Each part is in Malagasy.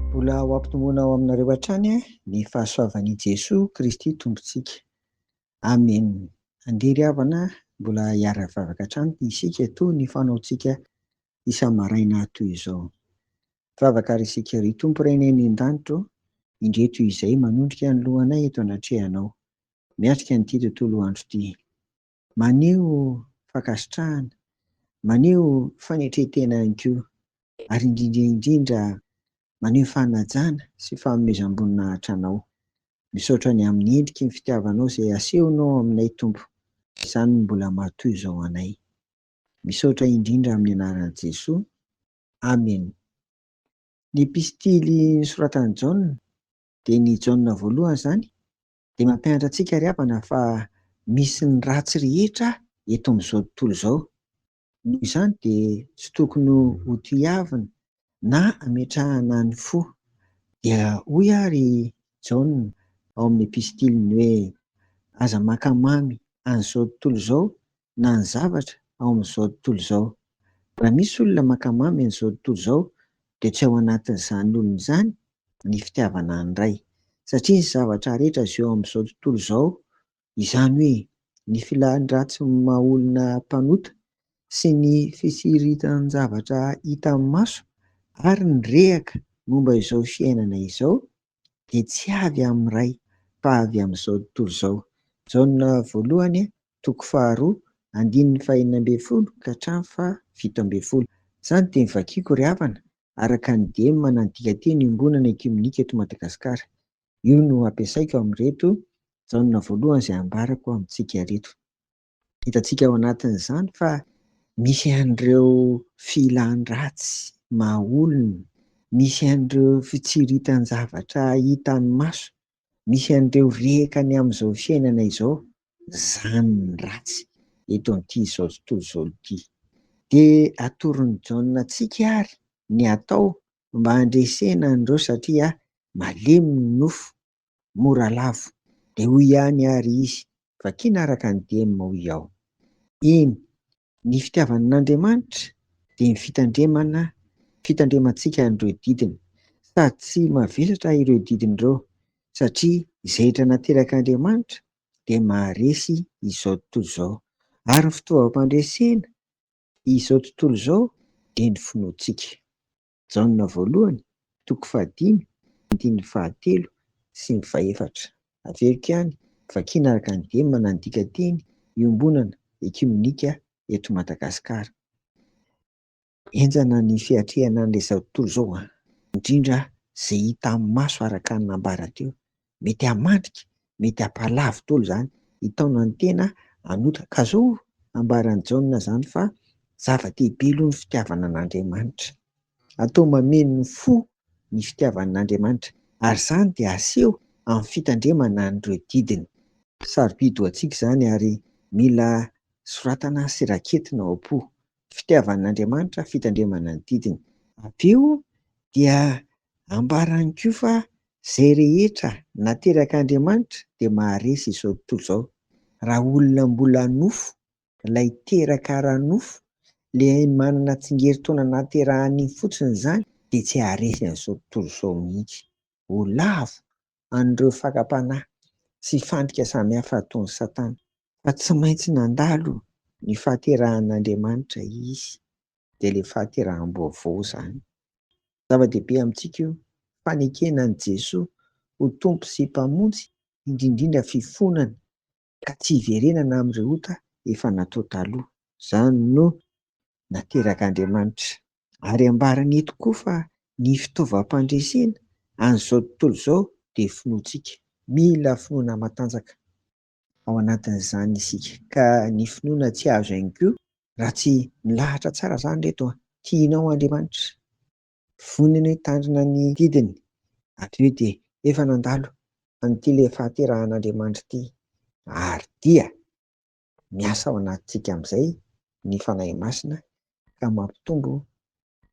Mbola ho ampitomboina ao aminareo hatrany ny fahasoavan'i Jesoa Kristy Tompontsika. Amen. Andeha ry havana mbola hiara-hivavaka hatrany isika toy ny fanaontsika isa-maraina toy izao. Vavaka ary isika, Ry Tompo Renay any an-danitro, indreto izahay manondrika ny lohanay eto anatrehanao, miatrika an'ity tontolo andro ity. Maneho fankasitrahana, maneho fanetren-tena ihany koa, ary indrindra indrindra maneho fanajana sy fanomezam-boninahitra Anao. Misaotra ny amin'ny endriky ny fitiavanao izay asehonao aminay Tompo, izany no mbola matoy izao anay. Misaotra indrindra amin'ny anaran'i Jesoa. Amen. Ny epistily nosoratan'i Jaona, dia ny Jaona voalohany izany, Dia mampianatra antsika ry havana fa misy ny ratsy rehetra eto amin'izao tontolo izao. Noho izany dia tsy tokony ho tohiavina na ametrahana ny fo. Dia hoy ary Jaona ao amin'ny epistiliny hoe, Aza maka mamy an'izao tontolo izao na ny zavatra ao amin'izao tontolo izao. Raha misy olona maka mamy an'izao tontolo izao dia tsy ao anatin'izany olona izany ny fitiavana an'i Ray. Satria ny zavatra rehetra izay eo amin'izao tontolo izao, izany hoe ny filàn'ny ratsy maha olona mpanota sy ny fitsiritan-javatra hita amin'ny maso ary ny rehaka momba izao fiainana izao dia tsy avy amin'ny Ray fa avy amin'izao tontolo izao. Jaona voalohany, toko faharoa, andininy fahenina ambin'ny folo ka hatramin'ny fahafito ambin'ny folo. Izany dia novakiako ry havana, araka ny dieny manandika teny Iombonana Ekiomenika eto Madagasikara. Io no ampiasaiko amin'ireto Jaona voalohany izay ambarako amintsika ireto. Hitantsika ao anatin'izany fa misy an'ireo filan-dratsy maha olona, misy an'ireo fitsiritan-javatra hitan'ny maso, misy an'ireo rehaka ny amin'izao fiainana izao, izany ny ratsy eto amin'ity izao tontolo izao ity. Dia atoron'i Jaona antsika àry ny atao mba handresena an'ireo satria malemy ny nofo mora lavo. Dia hoy ihany àry izy, Vakina araka ny dieny, hoy aho. Eny, ny fitiavan' Andriamanitra dia ny fitandremana fitandremantsika an'ireo didiny. Sady tsy mavesatrà ireo didiny ireo, satria izay hetra naterak' Andriamanitra dia maharesy izao tontolo izao. Ary ny fitaovam-pandresena izao tontolo izao dia ny finoantsika. Jaona voalohany, toko fahadimy, andininy fahatelo sy ny fahefatra. Averiko ihany, vakiana araka ny dieny manana ny dikanteny Iombonana ekiomenika eto Madagasikara. Henjana ny fiatrehana an'ilay zao tontolo izao, indrindra izay hita amin'ny maso araka ny nambara teo. mety hahamandrika, mety hampahalavo dolo zany, hitaona ny tena hanota. Ka zao ambaran'i Jaona zany fa zava-dehibe aloha ny fitiavana an'Andriamanitra. Atao mameno ny fo ny fitiavana an'Andriamanitra ary zany dia aseho amin'ny fitandremana an'ireo didiny. Sarobidy ho antsika zany ary mila soratana sy raketina ao am-po fitiavan'Andriamanitra fitandremana ny didiny. Avy eo dia ambarany koa fa izay rehetra naterak'Andriamanitra dia maharesy izao tontolo izao. Raha olona mbola nofo, ilay teraka ara-nofo, ilay manana tsingerin-taona nahaterahan'iny fotsiny izany dia tsy haharesy an'izao tontolo izao mihitsy. ho lavo an'ireo fakam-panahy sy fandrika samihafa ataon'i Satana. Fa tsy maintsy nandalo ny fahaterahan'Andriamanitra izy, dia ilay fahateraham-baovao izany. Zava-dehibe amintsika io fanekena an'i Jesoa ho Tompo sy Mpamonjy, indrindrindra fifonana ka tsy hiverenana amin'ireo ota efa natao taloha. Izany no naterak'Andriamanitra. Ary ambarany eto koa fa ny fitaovam-pandresena an'izao tontolo izao dia finoantsika. Mila finoana matanjaka ao anatin'izany isika, ka ny finoana tsy azo ihany koa raha tsy milahatra tsara izany ry reto an! Tianao Andriamanitra? Vonona ny hitandrina ny didiny. Hatreo dia efa nandalo an'ity ilay fahaterahan'Andriamanitra ity, ary dia miasa ao anatintsika amin'izay ny Fanahy Masina ka mampitombo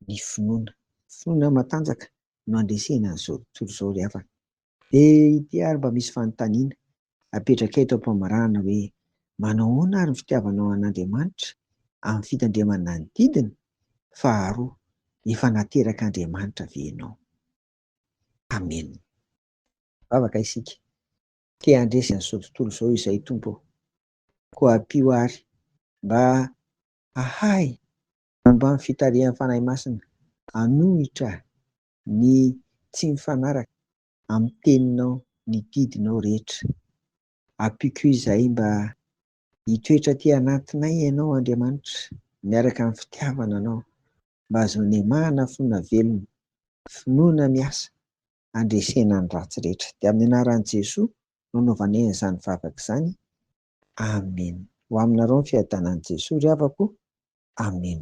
ny finoana. Finoana matanjaka no andresena an'izao tontolo izao ry havana. Dia ity ary mba misy fanontaniana apetrakay eto am-pamarahana hoe, manao ahoana ary ny fitiavanao an'Andriamanitra amin'ny fitandremana ny didiny? Faharoa, efa nateraka Andriamanitra ve ianao? Amen. Hivavaka isika. Te handresy an'izao tontolo izao Izahay Tompo ô. Koa ampio ahy mba hahay momba ny fitarihan'ny Fanahy Masina hanohitra Ny tsy mifanaraka amin'ny teninao ny didinao rehetra. Ampiko izay mba hitoetra aty anatinay Ianao Andriamanitra miaraka amin'ny fitiavana Anao mba hahazoan'emahana finoana velona, finoana miasa handresena ny ratsy rehetra. Dia amin'ny anaran'i Jesoa no anaovanay an'izany vavaka izany. Amen ho aminareo ny fiadanan'i Jesoa ry havako o Amen.